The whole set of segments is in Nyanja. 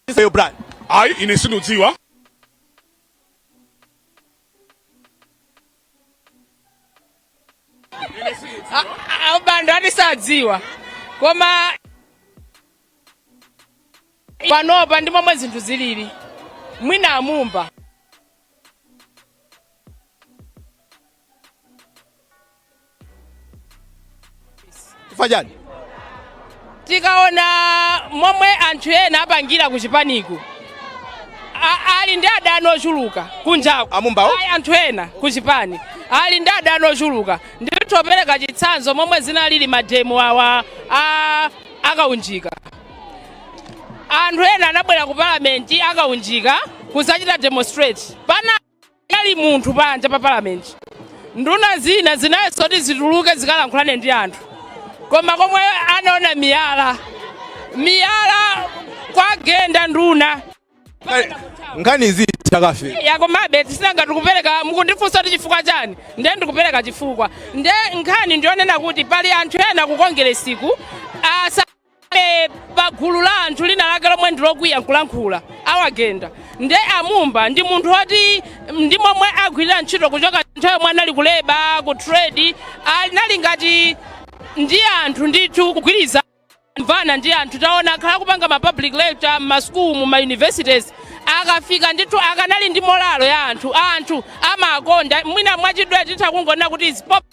Yes Brian. ayi ine sindidziwa abanda ati sadziwa koma panopa ndi momwe zinthu zilili mwina amumba chifukwa chani tikaona momwe anthu ena apangira ku chipaniku a- ali ndi adani ochuluka kunjaku Amumbawo? ayi anthu ena ku chipani ali ndi adani ochuluka nditapereka chitsanzo momwe zinalili mademo awa a- akaunjika anthu ena anabwera ku palamenti akaunjika kuzachita demonstrate pana- ali munthu panja pa parliament nduna zina zinayesa kuti zituluke zikalankhulane ndi anthu koma komwe anaona miyala miyala kuwagenda nduna nkhani izi takafe yakomabe tisinanga ndikupereka mukundifunsa kuti chifukwa chani ndiye ndikupereka chifukwa ndiye nkhani ndiyonena kuti pali anthu ena ku kongeresiku asa pa gulu la anthu lina lake lomwe ndilokwiya nkulankhula awagenda nde amumba ndi munthu oti ndi momwe agwirira ntchito kuchoka nthawi yomwe anali kuleba ku trade anali ngati ndi anthu ndithu kugwiriza- kumvana ndi anthu taona akhala akupanga ma public lecture m'ma school mu ma universities akafika ndithu akanali ndi morale ya anthu anthu amawakonda mwina mwachidule titha kungonena kuti he's pop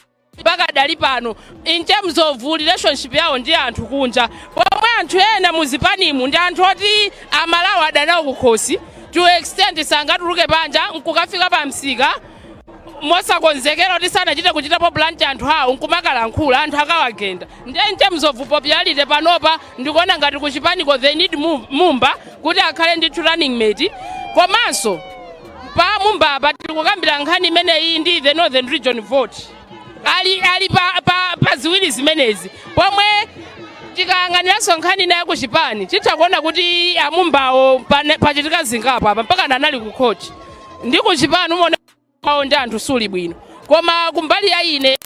pakadali pano in terms of relationship yawo ndi anthu kunja pomwe anthu ena m'zipanimu ndi anthu oti aMalawi ali nawo kukhosi to extent sangatuluke panja nkukafika pa msika mosakonzekera kuti sanachite kuchitapo plant anthu awo nkumakalankhula anthu akawagenda nde in terms of popularity panopa ndikuona ngati kuchipaniko they need mu- mumba kuti akhale ndithu running mate komanso pa mumbapa tikukambira nkhani imeneyi ndi the northern region vote ali, ali pa, pa, pa ziwiri zimenezi pomwe tikayang'aniranso nkhani ina yakuchipani titha kuona kuti amumbawo pane- pachitika zingapo apa mpaka anali ku khoti ndi kuchipani ubale wawo ndi anthu suli bwino koma kumbali ya ine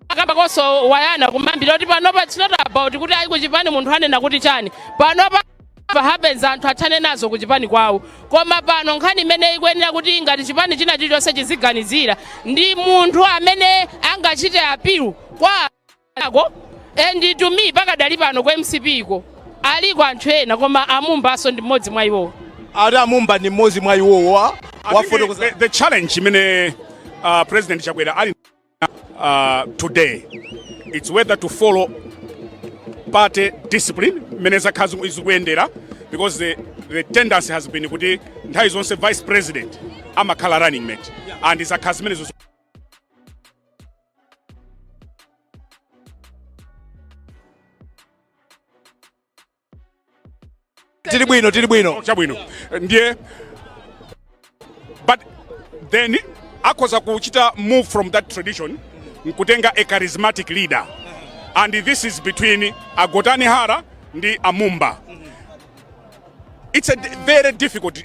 akambakonso Brian kumayambiriro kuti panopa it's not about kuti ayi kuchipani munthu anena kuti chani panopa whatever happens anthu athane nazo kuchipani kwawo koma pano nkhani imene ikuyenera kuti ngati chipani china chilichonse chiziganizire ndi munthu amene angachite appeal kwa anthu and to me pakadali pano ku mcp iko aliko anthu ena koma amumbanso ndi mmodzi mwa iwowo ati amumba ndi mmodzi mwa iwowo wa- I think wafotokoza the, the challenge imene uh, president chakwera ali uh, today it's whether to follow party discipline mmene zakhala ziku- zikuyendera because the, the tendency has been kuti nthawi zonse vice president amakhala running mate and zakhala zimenezo ziku- tili bwino tili bwino chabwino ndiye but then akhoza kuchita move from that tradition nkutenga a charismatic leader and this is between a Gotani Hara ndi a Mumba it's a d- very difficult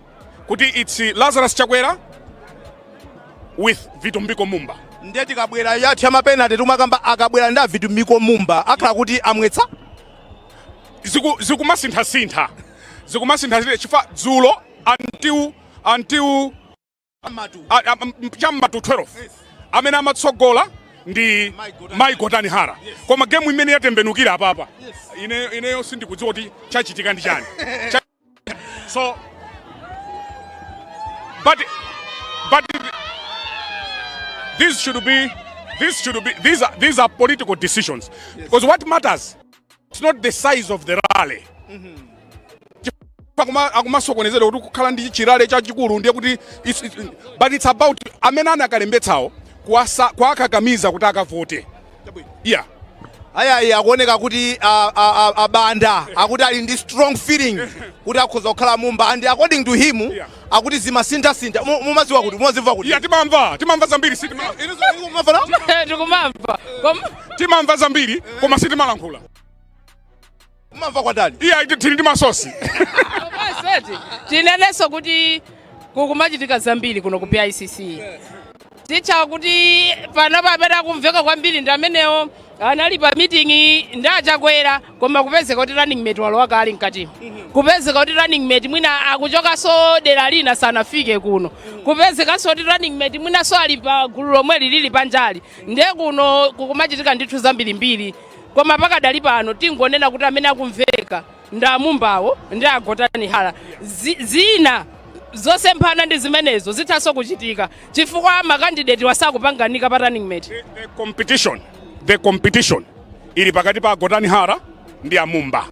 kuti it's Lazarus Chakwera with Vitumbiko Mumba. Ndiye tikabwera yathu ya mapenalty timakamba akabwera ndi a Vitumbiko Mumba akhala kuti amwetsa ziku zikumasintha sintha zikumasintha sintha chifukwa dzulo until until cha m'ma 12 amene amatsogola ndi Mai Gotani Hara koma game imene yatembenukira apapa ine ineyo sindikudziwa kuti chachitika ndi chani so but but this should be this should be these are these are political decisions because what matters It's not the size of the rally. Akuma- akumasokonezedwa kuti kukhala ndi chirale chachikulu ndiye kuti it's- it's- but it's about amene anakalembetsawo kuwasa- kuwakakamiza kuti akavote yeah ayayi akuoneka kuti a- a- a- a Banda akuti ali ndi strong feeling kuti akhoza kukhala Mumba and according to him akuti zimasinthasintha Mu- mumaziwa kuti mumazimva kuti iya timamva timamva zambiri sitima ndikumamva koma timamva zambiri koma sitimalankhula mumamva kwa ndani iya iti- tili ndi masosi Komanso eti, tinenenso kuti kukumachitika zambiri kuno ku BICC titha kuti panopa amene akumveka kwambiri ndi amenewo anali pa meeting ndi a Chakwera koma kupezeka kuti running mate walowa kale mkatimo kupezeka kuti running mate mwina akuchokanso dera lina sanafike kuno kupezekanso kuti running mate mwinanso ali pa gulu lomweli lili panjali ndiye kuno kukumachitika ndithu zambirimbiri koma pakadali pano tingonena kuti amene akumveka ndi a Mumbawo ndi a Gotani Hara Zi- zina zosemphana ndi zimenezo zithanso kuchitika chifukwa makandideti wasakupanganika pa running mate the competition the competition ili pakati pa a Gotani Hara ndi a Mumba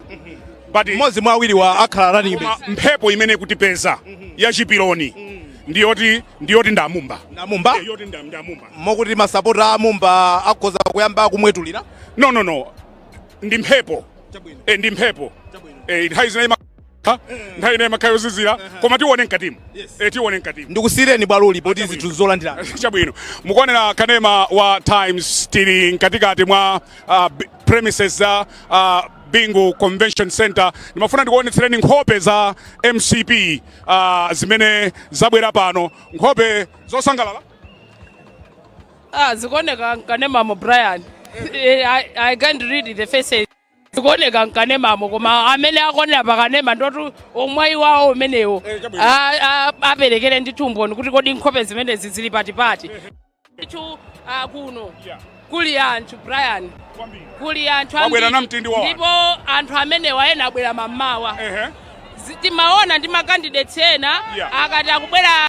but mmodzi mwa awiriwa akhala running koma mate mphepo imene ikutipeza ya chipiloni ndiyoti ndiyoti ndi a Mumba ndi a Mumba Eh, yoti ndi ndi a Mumba mokuti masapota a a Mumba akhoza kuyamba kumwetulira no no no ndi mphepo e, ndi mphepo e, nthawi zina ima Ha? nthawi ina imakhala yozizira koma tione mkatimu e, tione mkatimu ndikusiyireni bwaloli poti zinthu zolandira chabwino mukuonera kanema wa times tili mkatikati mwa uh, b- premises za uh, bingu convention center ndimafuna ndikuonetsereni nkhope za mcp uh, zimene zabwera pano nkhope zosangalala Ah, zikuoneka mkanemamo Brian. Eh, I, I can't read the faces. Zikuoneka mkanemamo koma amene akuonera pakanema ndiwotu omwayi wawo umenewo Eh, chabwino. Ah, ah, aperekere ndithu umboni kuti kodi nkhope zimenezi zili pati pati. Ndithu ah, kuno Yeah. kuli anthu Brian Kwambiri. kuli anthu Wabwera ambiri. na mtindi wa anthu. ndipo anthu amenewa ena abwera mammawa Ehe. Zi- timaona ndi makandidates ena Yeah. akati akubwera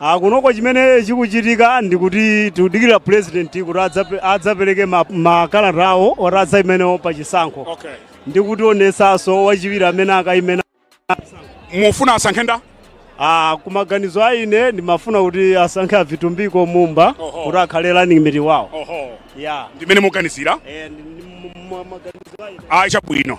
Ah, kunoko chimene chikuchitika ndi kuti tikudikira president kuti adzape- adzapereke ma- makalata awo oti adzaime nawo pa chisankho okay. ndi kutionesanso wachiwiri amene akaime naye mufuna asankhe ndani ah, kumaganizo a ine ndimafuna kuti asankhe a Vitumbiko Mumba Oho. kuti akhale running mate wawo oho yeah. ndimene muganizira Eh, ndi- ndi- mu- mu- maganizo a ine. ayi chabwino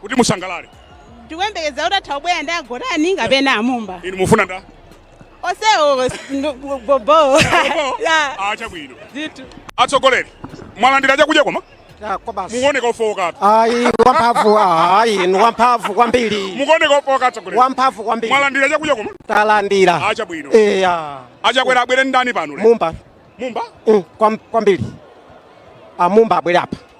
kuti musangalale ndikuyembekeza kuti atha kubwera ndi agotani kapena amumba inu mufuna ndani onsewo bobo Ah, chabwino ndithu atsogoleri mwalandira chakudya koma mukuoneka ofowokatu ayi wamphamvu ayi ni wamphamvu kwambiri mukuoneka ofowoka atsogoleri wamphamvu kwambiri mwalandira chakudya koma talandira Ah, chabwino eya achakwera abwere ndani pano lero? mumba mumba Mm, kwam- kwambiri amumba abwere apa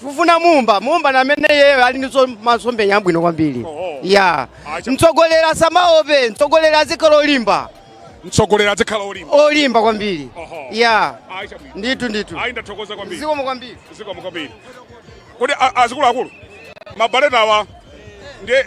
Tikufuna Mumba, Mumba ndi amene iyeyo ali ndi zo- masomphenya abwino kwambiri. Oho. Ya. Acha. Mtsogoleri asamaope, mtsogoleri azikhala olimba, mtsogoleri adzikhala olimba olimba kwambiri. Oho. Ya. ayi chabwino Ndithu ndithu. ayi ndathokoza kwambiri Zikomo kwambiri. zikomo kwambiri kodi a- azikuluakulu mabaletawa ndiye